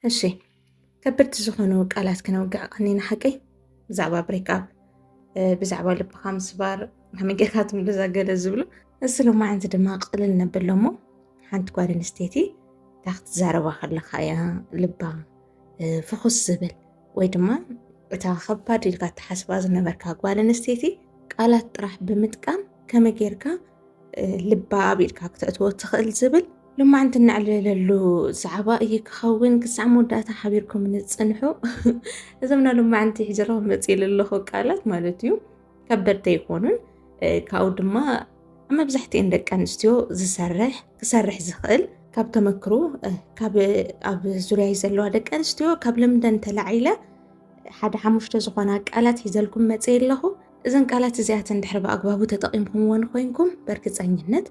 እሺ ከብድቲ ዝኾኑ ቃላት ክነውግዕ ቀኒና ሓቀይ ብዛዕባ ብሬክኣፕ ብዛዕባ ልብኻ ምስባር ከመይ ጌርካ ትምልዛ ገለ ዝብሉ እዚ ሎማዓንቲ ድማ ቅልል ነብሎ እሞ ሓንቲ ጓል ኣንስተይቲ እታ ክትዛረባ ከለካ እያ ልባ ፍኹስ ዝብል ወይ ድማ እታ ኸባድ ኢልካ እትሓስባ ዝነበርካ ጓል ኣንስተይቲ ቃላት ጥራሕ ብምጥቃም ከመይ ጌርካ ልባ ኣቢልካ ክተእትዎ ትኽእል ዝብል ልማዕንቲ እናዕለለሉ ዛዕባ እዩ ክኸውን ክሳዕ መወዳእታ ሓቢርኩም ንፅንሑ እዞም ናይ ልማዕንቲ ሕጅራዊ መፅኢሉ ኣለኹ ቃላት ማለት እዩ ከበድቲ ኣይኮኑን ካብኡ ድማ ኣብ መብዛሕትኤን ደቂ ኣንስትዮ ዝሰርሕ ክሰርሕ ዝኽእል ካብ ተመክሮ ካብ ኣብ ዙርያይ ዘለዋ ደቂ ኣንስትዮ ካብ ልምደን ተላዒለ ሓደ ሓሙሽተ ዝኾና ቃላት ሒዘልኩም መፅእ ኣለኹ እዘን ቃላት እዚኣተን ድሕሪ ብኣግባቡ ተጠቒምኩምዎን ኮይንኩም በርግፀኝነት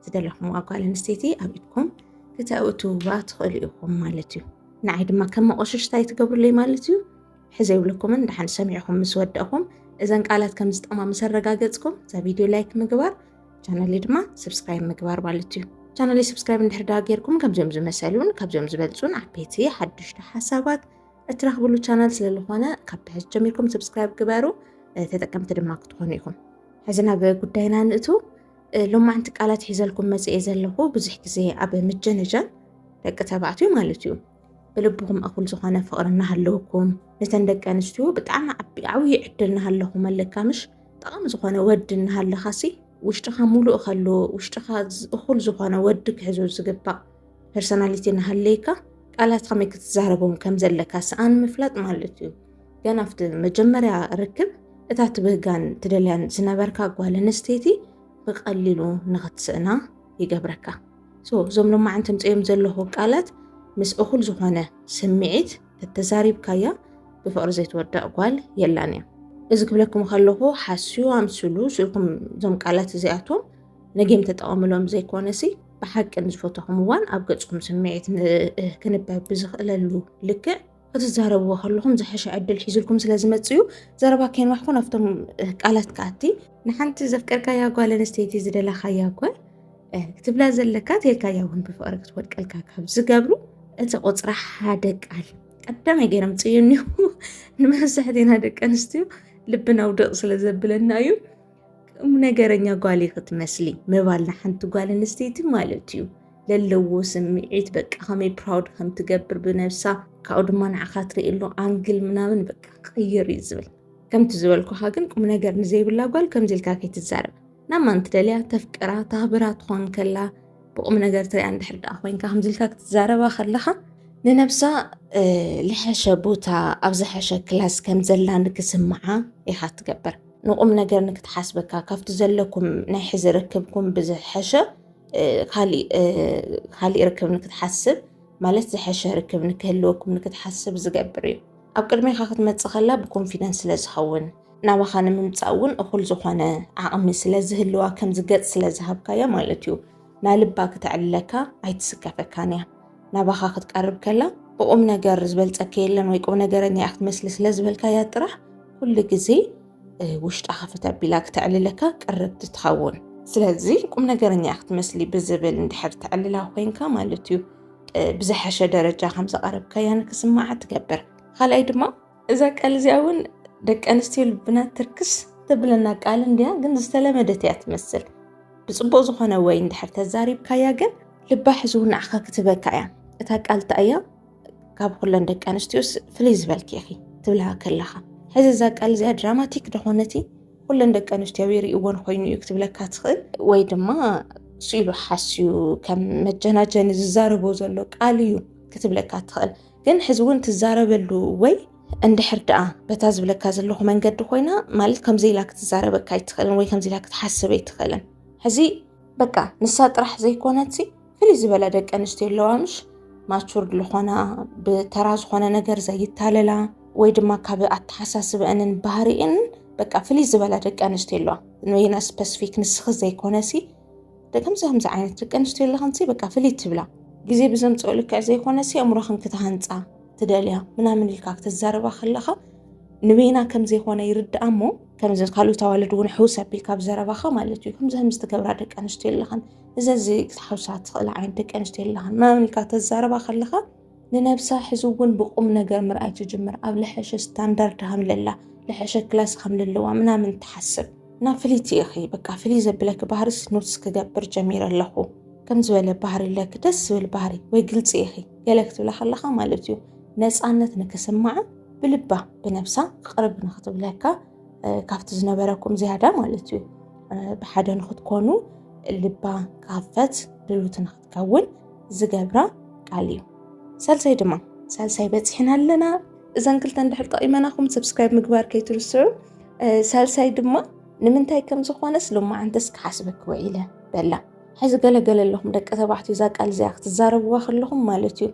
ዝደለኹምዋ ጓል ኣንስተይቲ ኣብ ኢድኩም ክተእትውዋ ትኽእሉ ኢኹም ማለት እዩ ንዓይ ድማ ከም መቆሸሽታ ይትገብሩለይ ማለት እዩ ሕዘ ይብለኩምን ደሓን ሰሚዕኹም ምስ ወደእኹም እዘን ቃላት ከም ዝጠማ ምስ ኣረጋገጽኩም እዛ ቪድዮ ላይክ ምግባር ቻነለይ ድማ ሰብስክራይብ ምግባር ማለት እዩ ቻነለይ ሰብስክራይብ እንድሕር ዳ ጌርኩም ከምዚኦም ዝመሰሉን ካብዚኦም ዝበልጹን ዓበይቲ ሓዱሽቲ ሓሳባት እትረኽብሉ ቻናል ስለዝኾነ ካብ ትሕዝ ጀሚርኩም ሰብስክራይብ ግበሩ ተጠቀምቲ ድማ ክትኾኑ ኢኹም ሕዚ ናብ ጉዳይና ንእቱ ሎማዕንቲ ቃላት ሒዘልኩም መፅኤ ዘለኹ ብዙሕ ግዜ ኣብ ምጀነጃን ደቂ ተባዕትዩ ማለት እዩ ብልብኹም እኹል ዝኾነ ፍቕሪ እናሃለወኩም ነተን ደቂ ኣንስትዮ ብጣዕሚ ዓብዪ ዕድል እናሃለኹም ኣለካምሽ ጠቓሚ ዝኾነ ወዲ እናሃለኻሲ ውሽጥኻ ሙሉእ ከሎ ውሽጥኻ እኹል ዝኾነ ወዲ ክሕዞ ዝግባእ ፐርሶናሊቲ እናሃለይካ ቃላት ከመይ ክትዛረቦም ከም ዘለካ ሰኣን ምፍላጥ ማለት እዩ ገና ኣብቲ መጀመርያ ርክብ እታ ትብህጋን ትደልያን ዝነበርካ ጓል ኣንስተይቲ ብቐሊሉ ንኽትስእና ይገብረካ ሶ እዞም ሎማዓንቲ ኣምጽኦም ዘለኹ ቃላት ምስ እኹል ዝኾነ ስምዒት ተተዛሪብካያ ብፍቕሪ ዘይትወዳእ ጓል የላን እያ። እዚ ክብለኩም ከለኹ ሓስዩ ኣምስሉ ስኢልኩም እዞም ቃላት እዚኣቶም ነጌም ተጠቐምሎም ዘይኮነሲ ብሓቂ ንዝፈተኹም እዋን ኣብ ገጽኩም ስምዒት ክንበብ ብዝኽእለሉ ልክዕ ክትዛረብዎ ከለኹም ዝሐሸ ዕድል ሒዙልኩም ስለ ዝመፅእ እዩ ዘረባ ከይንዋሕኮ ናብቶም ቃላት ከኣቲ ንሓንቲ ዘፍቀርካያ ጓል ኣንስተይቲ ዝደለኻያ ጓል ክትብላ ዘለካ ተልካያ እውን ብፍቕሪ ክትወድቀልካ ካብ ዝገብሩ እቲ ቁፅራ ሓደ ቃል ቀዳማይ ገይሮም ፅዩን እዩ ንመብዛሕቴና ደቂ ኣንስትዮ ልብና ውደቕ ስለ ዘብለና እዩ ከም ነገረኛ ጓል ክትመስሊ ምባል ንሓንቲ ጓል ኣንስተይቲ ማለት እዩ ለለዎ ስምዒት በቃ ከመይ ፕራውድ ከም ትገብር ብነብሳ ካብኡ ድማ ንዓኻ ትርእየሉ ኣንግል ምናምን በቃ ክቕይር እዩ ዝብል ከምቲ ዝበልኩኻ ግን ቁም ነገር ንዘይብላ ጓል ከምዚ ኢልካ ከይትዛረብ ናብ ማን ትደልያ ተፍቅራ ታህብራ ትኾን ከላ ብቁም ነገር ትሪያ እንድሕር ደኣ ኮይንካ ከምዚ ኢልካ ክትዛረባ ከለኻ ንነብሳ ልሐሸ ቦታ ኣብ ዝሐሸ ክላስ ከም ዘላ ንክስምዓ ኢኻ ትገብር ንቁም ነገር ንክትሓስበካ ካብቲ ዘለኩም ናይ ሕዚ ርክብኩም ብዝሐሸ ካሊእ ርክብ ንክትሓስብ ማለት ዝሐሸ ርክብ ንክህልወኩም ንክትሓስብ ዝገብር እዩ። ኣብ ቅድሜካ ክትመፅእ ከላ ብኮንፊደንስ ስለዝኸውን ናባኻ ንምምፃእ እውን እኹል ዝኾነ ዓቕሚ ስለዝህልዋ ከምዚ ገፅ ስለዝሃብካያ ማለት እዩ ናልባ ክተዕልለካ ኣይትስከፈካን እያ። ናባኻ ክትቀርብ ከላ ብቁም ነገር ዝበልፀኪ የለን ወይ ቁም ነገረኛ እያ ክትመስሊ ስለዝበልካያ ጥራሕ ኩሉ ግዜ ውሽጣ ክፍት ኣቢላ ክተዕልለካ ቅርብቲ ትኸውን ስለዚ ቁም ነገረኛ እያ ክትመስሊ ብዝብል እንድሕር ተዕልላ ኮንካ ማለት እዩ ብዝሐሸ ደረጃ ከምዘቐረብካያ ንክስማዓ ትገብር ካልኣይ ድማ እዛ ቃል እዚኣ እውን ደቂ ኣንስትዮ ልብና ትርክስ ተብለና ቃል እንድያ፣ ግን ዝተለመደት እያ ትመስል። ብፅቡቅ ዝኾነ ወይ እንድሕር ተዛሪብካያ ግን ልባ ሕዝው ንዓኻ ክትበካ እያ። እታ ቃል እታ እያ ካብ ኩለን ደቂ ኣንስትዮ ፍልይ ዝበልኪ ኢኺ ትብልሃ ከለኻ። ሕዚ እዛ ቃል እዚኣ ድራማቲክ ደኾነቲ ኩለን ደቂ ኣንስትዮ ይርእዎን ኮይኑ እዩ ክትብለካ ትኽእል ወይ ድማ ስኢሉ ሓስዩ ከም መጀናጀኒ ዝዛረቦ ዘሎ ቃል እዩ ክትብለካ ትኽእል። ግን ሕዚ እውን ትዛረበሉ ወይ እንድሕር ደኣ በታ ዝብለካ ዘለኹ መንገዲ ኮይና ማለት ከምዚ ኢላ ክትዛረበካ ኣይትኽእልን ወይ ከምዚ ኢላ ክትሓስብ ኣይትኽእልን ሕዚ በቃ ንሳ ጥራሕ ዘይኮነትሲ ፍልይ ዝበለ ደቂ ኣንስትዮ ኣለዋ ምሽ ማቹርድ ዝኾና ብተራ ዝኾነ ነገር ዘይታለላ ወይ ድማ ካብ ኣተሓሳስበአንን ባህሪኤንን በቃ ፍልይ ዝበላ ደቂ ኣንስትዮ ኣለዋ ንወይና ስፐስፊክ ንስኺ ዘይኮነሲ ደቂ ኣንስትዮ ከምዚ ዓይነት ደቂ ኣንስትዮ ኣለኽንሲ በቃ ፍልይ ትብላ ግዜ ብዘምፅኦ ልክዕ ዘይኮነሲ ኣእምሮኽን ክትሃንፃ ትደልያ ምናምን ኢልካ ክትዛረባ ከለኻ ንበይና ከም ዘይኮነ ይርድኣ እሞ ከምዚ ካልኦት ኣዋልድ እውን ሕውስ ኣቢልካ ብ ዘረባኻ ማለት እዩ ከምዚ ከምዚ ትገብራ ደቂ ኣንስትዮ ኣለኽን እዚ እዚ ክትሓውሳ ትኽእላ ዓይነት ደቂ ኣንስትዮ ኣለኽን ምናምን ኢልካ ተዛረባ ከለኻ ንነብሳ ሕዚ እውን ብቁምነገር ምርኣይ ትጅምር ኣብ ልሐሸ ስታንዳርድ ሃምለላ ልሐሸ ክላስ ሃምለለዋ ምናምን ትሓስብ እና ፍልይቲ ኢኺ በቃ ፍልይ ዘብለኪ ባህሪስ ኖትስ ክገብር ጀሚረ ኣለኹ ከም ዝበለ ባህሪ ኣለኪ ደስ ዝብል ባህሪ ወይ ግልፂ ኢኺ ገለ ክትብላ ከለኻ ማለት እዩ ነፃነት ንክስማዓ ብልባ ብነብሳ ክቅርብ ንክትብለካ ካብቲ ዝነበረኩም ዝያዳ ማለት እዩ ብሓደ ንክትኮኑ ልባ ክኸፈት ድሉት ከውን ዝገብራ ቃል እዩ ሳልሳይ ድማ ሳልሳይ በፂሕና ኣለና እዘን ክልተ እንድሕር ጠቂመናኹም ሰብስክራይብ ምግባር ከይትርስዑ ሳልሳይ ድማ ንምንታይ ከም ዝኾነስ ሎማዓንተስ ክሓስበክ ውዒለ በላ ሕዚ ገለገለ ኣለኹም ደቂ ተባዕትዮ እዛ ቃል እዚኣ ክትዛረብዋ ከለኹም ማለት እዩ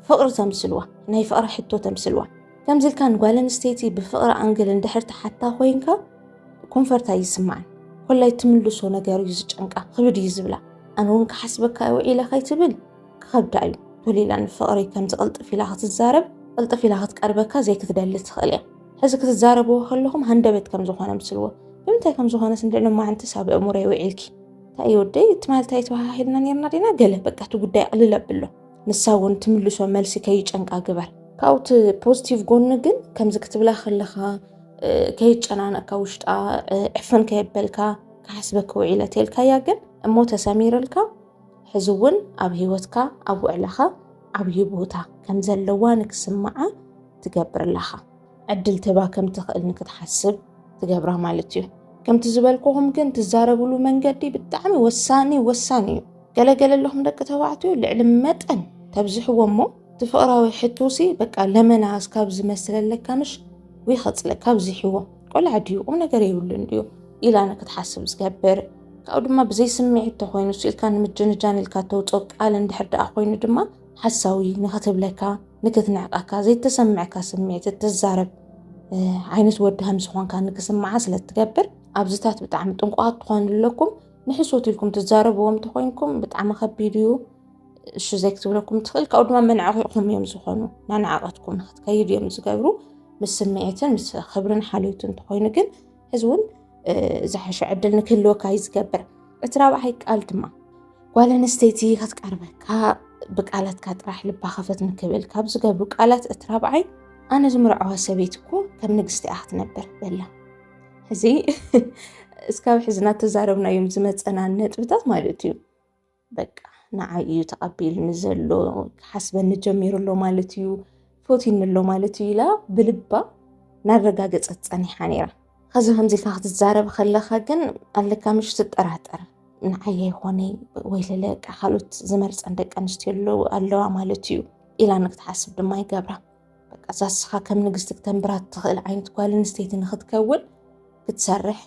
ፍቕሪ ተምስልዋ ናይ ፍቕሪ ሕቶ ተምስልዋ ከምዚ ኢልካ ንጓል ኣንስተይቲ ብፍቕሪ ኣንግል እንድሕር ትሓታ ኮይንካ ኮንፈርት ኣይስማዕን ኮላይ ትምልሶ ነገር እዩ ዝጨንቃ ክብድ እዩ ዝብላ ኣነ እውን ክሓስበካ ውዒለ ከይትብል ክኸብዳ እዩ ቶሊላ ንፍቕሪ ከምዚ ቅልጥፍ ኢላ ክትዛረብ ቅልጥፍ ኢላ ክትቀርበካ ዘይክትደሊ ትኽእል እያ ሕዚ ክትዛረብዎ ከለኹም ሃንደበት ከም ዝኾነ ምስልዎ ብምንታይ ከም ዝኾነ ስንድዕነ ማዓንትስ ኣብ እእሙረይ ውዒልኪ እንታይ ወደይ እቲ ማለት ኣይተባሃሂልና ነርና ዲና ገለ በቃ እቲ ጉዳይ ቅልል ኣብሎ ንሳ እውን ትምልሶ መልሲ ከይጨንቃ ግበር ካብኡ እቲ ፖዚቲቭ ጎኒ ግን ከምዚ ክትብላ ከለካ ከይጨናነቅካ ውሽጣ ዕፍን ከየበልካ ክሓስበኪ ውዒለ ተልካያ ግን እሞ ተሰሚርልካ ሕዚ እውን ኣብ ሂወትካ ኣብ ውዕላካ ዓብዪ ቦታ ከም ዘለዋ ንክስምዓ ትገብር ኣለካ ዕድል ትህባ ከም ትኽእል ንክትሓስብ ትገብራ ማለት እዩ ከምቲ ዝበልኩኹም ግን ትዛረብሉ መንገዲ ብጣዕሚ ወሳኒ ወሳኒ እዩ ገለገለ ኣለኹም ደቂ ተባዕትዮ ልዕሊ መጠን ተብዝሕዎ እሞ እቲ ፍቕራዊ ሕቶሲ በቃ ለመና እስካብ ዝመስለለካ ምሽ ወይ ኸፅለ ካብ ዝሕዎ ቆልዓ ድዩ ቁም ነገር የብሉን ድዩ ኢላ ንክትሓስብ ዝገብር ካብኡ ድማ ብዘይ ስምዒት ተኮይኑ ኢልካ ንምጅንጃን ኢልካ ተውፅኦ ቃል እንድሕር ደኣ ኮይኑ ድማ ሓሳዊ ንክትብለካ ንክትንዕቀካ ዘይተሰምዐካ ስምዒት እትዛረብ ዓይነት ወዲ ከም ዝኾንካ ንክስምዓ ስለ እትገብር ኣብዚታት ብጣዕሚ ጥንቁቓት ትኾኑ ኣለኩም ንሕሶት ኢልኩም ትዛረብዎም ተኮይንኩም ብጣዕሚ ከቢድ እዩ እሺ ዘይክትብለኩም ትኽእል ካብኡ ድማ መናዕቂኹም እዮም ዝኾኑ ናናዕቐትኩም ንክትከይድ እዮም ዝገብሩ ምስ ስምዒትን ምስ ክብርን ሓልዮትን ተኮይኑ ግን እዚ እውን ዝሓሸ ዕድል ንክህልወካ እዩ ዝገብር እቲ ራብዓይ ቃል ድማ ጓል ኣንስተይቲ ክትቀርበካ ብቃላትካ ጥራሕ ልባ ከፈት ንክብል ካብ ዝገብሩ ቃላት እቲ ራብዓይ ኣነ ዝምርዐዋ ሰበይቲ እኮ ከም ንግስቲ እያ ክትነብር በላ እዚ እስካብ ሕዝና ተዛረብናዮም ዝመፀና ነጥብታት ማለት እዩ በቃ ንዓይ እዩ ተቐቢልኒ ዘሎ ክሓስበኒ ጀሚሩ ኣሎ ማለት እዩ ፎቲኒ ኣሎ ማለት እዩ ኢላ ብልባ ናረጋገፀት ፀኒሓ ነይራ ከዚ ከምዚ ኢልካ ክትዛረብ ከለካ ግን ኣለካ ምሽ ትጠራጠር ንዓይ ይኾነ ወይ ለለ ካልኦት ዝመርፀን ደቂ ኣንስትዮ ኣለዋ ማለት እዩ ኢላ ንክትሓስብ ድማ ይገብራ በቃ ዛስኻ ከም ንግስቲ ክተንብራ ትኽእል ዓይነት ጓል ኣንስተይቲ ንክትከውን ክትሰርሕ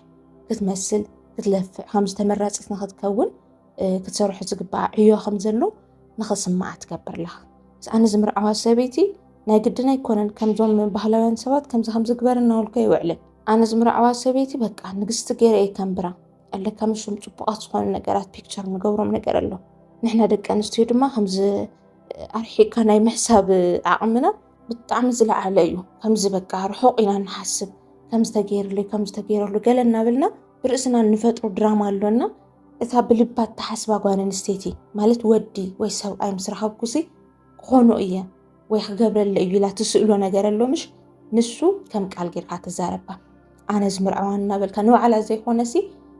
ክትመስል ክትለፍዕ ከምዚ ተመራፂት ንክትከውን ክትሰርሑ ዝግባኣ ዕዮ ከም ዘሎ ንክስማዓ ትገብር ኣለኻ ኣነ ዝምርዓዋ ሰበይቲ ናይ ግድን ኣይኮነን ከምዞም ባህላውያን ሰባት ከምዚ ከም ዝግበር እናበልኩ ኣይውዕልን ኣነ ዝምርዓዋ ሰበይቲ በቃ ንግስቲ ገይረ እየ ከንብራ ኣለካ ምሽም ፅቡቃት ዝኾኑ ነገራት ፒክቸር ንገብሮም ነገር ኣሎ ንሕና ደቂ ኣንስትዮ ድማ ከምዚ ኣርሒቕካ ናይ ምሕሳብ ዓቕምና ብጣዕሚ ዝለዓለ እዩ ከምዚ በቃ ርሑቕ ኢና ንሓስብ ከምዚ ተገይርለይ ከምዚ ተገይረሉ ገለ እናበልና ብርእስና እንፈጥሮ ድራማ ኣሎና እታ ብልባት ተሓስባ ጓል ኣንስተይቲ ማለት ወዲ ወይ ሰብኣይ ምስ ረኸብኩሲ ክኾኖ እየ ወይ ክገብረለ እዩ ኢላ ትስእሎ ነገር ኣሎ ምሽ ንሱ ከም ቃል ጌርካ ትዛረባ ኣነ ዝምርዐዋ እናበልካ ንባዕላ ዘይኮነሲ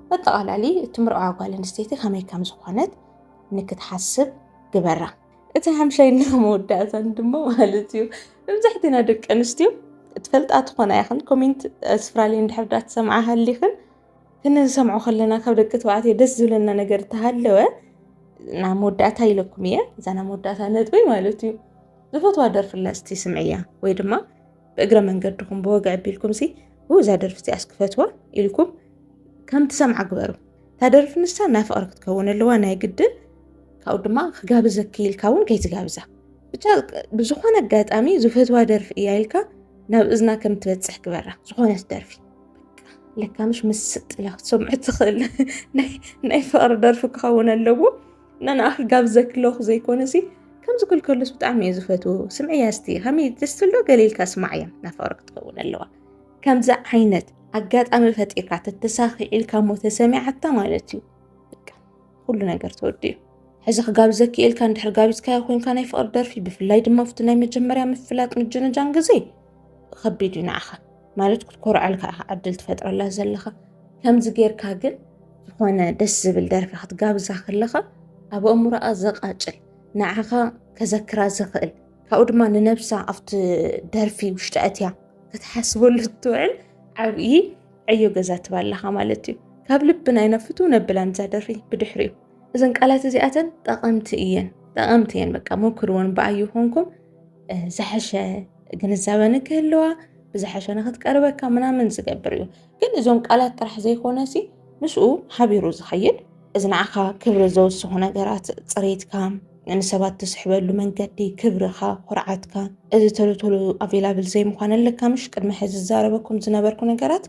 በጠቓላሊ እቲ ምርዐዋ ጓል ኣንስተይቲ ከመይ ከም ዝኾነት ንክትሓስብ ግበራ። እቲ ሓምሻይና መወዳእታን ድማ ማለት እዩ መብዛሕትና ደቂ ኣንስትዮ ትፈልጣ ትኾና ይኽን ኮሜንት ኣውስትራልያ እንድሕር ዳ ትሰምዓ ሃሊኽን ክንሰምዖ ከለና ካብ ደቂ ተባዕትዮ ደስ ዝብለና ነገር እተሃለወ ናብ መወዳእታ ኢለኩም እየ እዛ ናብ መወዳእታ ነጥበይ ማለት እዩ ዝፈትዋ ደርፍላ እስቲ ስምዕያ ወይ ድማ ብእግረ መንገድኹም ብወግዒ ኣቢልኩምሲ ብእዛ ደርፊ እዚኣ ክፈትዋ ኢልኩም ከም ትሰምዓ ግበሩ እታ ደርፊ ንሳ ናይ ፍቕሪ ክትከውን ኣለዋ ናይ ግድን ካብኡ ድማ ክጋብዘኪ ኢልካ እውን ከይትጋብዛ ብቻ ብዝኾነ ኣጋጣሚ ዝፈትዋ ደርፊ እያ ኢልካ ናብ እዝና ከም ትበፅሕ ግበራ ዝኾነት ደርፊ ለካ ምሽ ምስ ስጥላ ክትሰምዑ ትኽእል ናይ ፍቕሪ ደርፊ ክኸውን ኣለዎ ናንኣኺ ጋብ ዘክለኹ ዘይኮነሲ ከምዚ ክልከሉስ ብጣዕሚ እየ ዝፈትዎ ስምዕያ እስቲ ከመይ ደስ ትብሎ ገሊልካ ስማዕ እያ ናፋቅር ክትኸውን ኣለዋ ከምዚ ዓይነት ኣጋጣሚ ፈጢርካ ተተሳኺዒልካ እሞ ተሰሚዓታ ማለት እዩ ኩሉ ነገር ተወዲኡ ሕዚ ክጋብ ዘክኤልካ እንድሕር ጋቢዝካዮ ኮንካ ናይ ፍቅሪ ደርፊ ብፍላይ ድማ ኣብቲ ናይ መጀመርያ ምፍላጥ ምጅንጃን ግዜ ከቢድ እዩ ንዓኻ ማለት ክትኮርዐል ከዓ ዕድል ትፈጥረላ ዘለኻ ከምዚ ጌርካ ግን ዝኾነ ደስ ዝብል ደርፊ ክትጋብዛ ከለኻ ኣብ ኣእምሮኣ ዘቃጭል ንዓኻ ከዘክራ ዝኽእል ካብኡ ድማ ንነብሳ ኣብቲ ደርፊ ውሽጢ ኣትያ ክትሓስበሉ ትውዕል ዓብዪ ዕዮ ገዛ ትባለኻ ማለት እዩ ካብ ልቢ ናይ ነፍቱ ነብላን እዛ ደርፊ ብድሕሪ እዩ እዘን ቃላት እዚኣተን ጠቐምቲ እየን ጠቐምቲ እየን በቃ ሞክርዎን ብኣዩ ኮንኩም ዝሐሸ ግንዛበ ንክህልዋ ብዝሐሸ ንክትቀርበካ ምናምን ዝገብር እዩ ግን እዞም ቃላት ጥራሕ ዘይኮነ ሲ ምስኡ ሓቢሩ ዝኸይድ እዚ ንዓኻ ክብሪ ዘውስኹ ነገራት ፅሬትካ ንሰባት ትስሕበሉ መንገዲ ክብርኻ ኩርዓትካ እዚ ቶሎ ቶሎ ኣቬላብል ዘይምዃን ኣለካ ምሽ ቅድሚ ሕዚ ዝዛረበኩም ዝነበርኩ ነገራት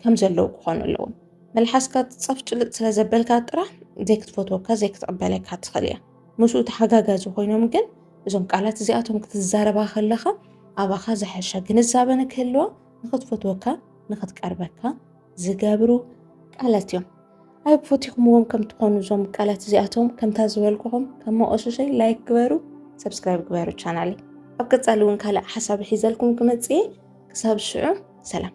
ከም ዘለዉ ክኾኑ ኣለዎም መልሓስካ ፀፍጭልጥ ስለ ዘበልካ ጥራሕ ዘይክትፈትወካ ዘይክትቕበለካ ትኽእል እያ ምስኡ ተሓጋጋዚ ኮይኖም ግን እዞም ቃላት እዚኣቶም ክትዛረባ ከለኻ ኣባኻ ዝሐሸ ግንዛበ ንክህልዋ ንክትፈትወካ ንክትቀርበካ ዝገብሩ ቃላት እዮም ኣይ ፈቲኹምዎም ከም ትኾኑ እዞም ቃላት እዚኣቶም ከምታ ዝበልኩኹም ከም መቆሸሸይ ላይክ ግበሩ ሰብስክራይብ ግበሩ ቻናለይ ኣብ ቀፃሊ እውን ካልእ ሓሳብ ሒዘልኩም ክመፅእ ክሳብ ሽዑ ሰላም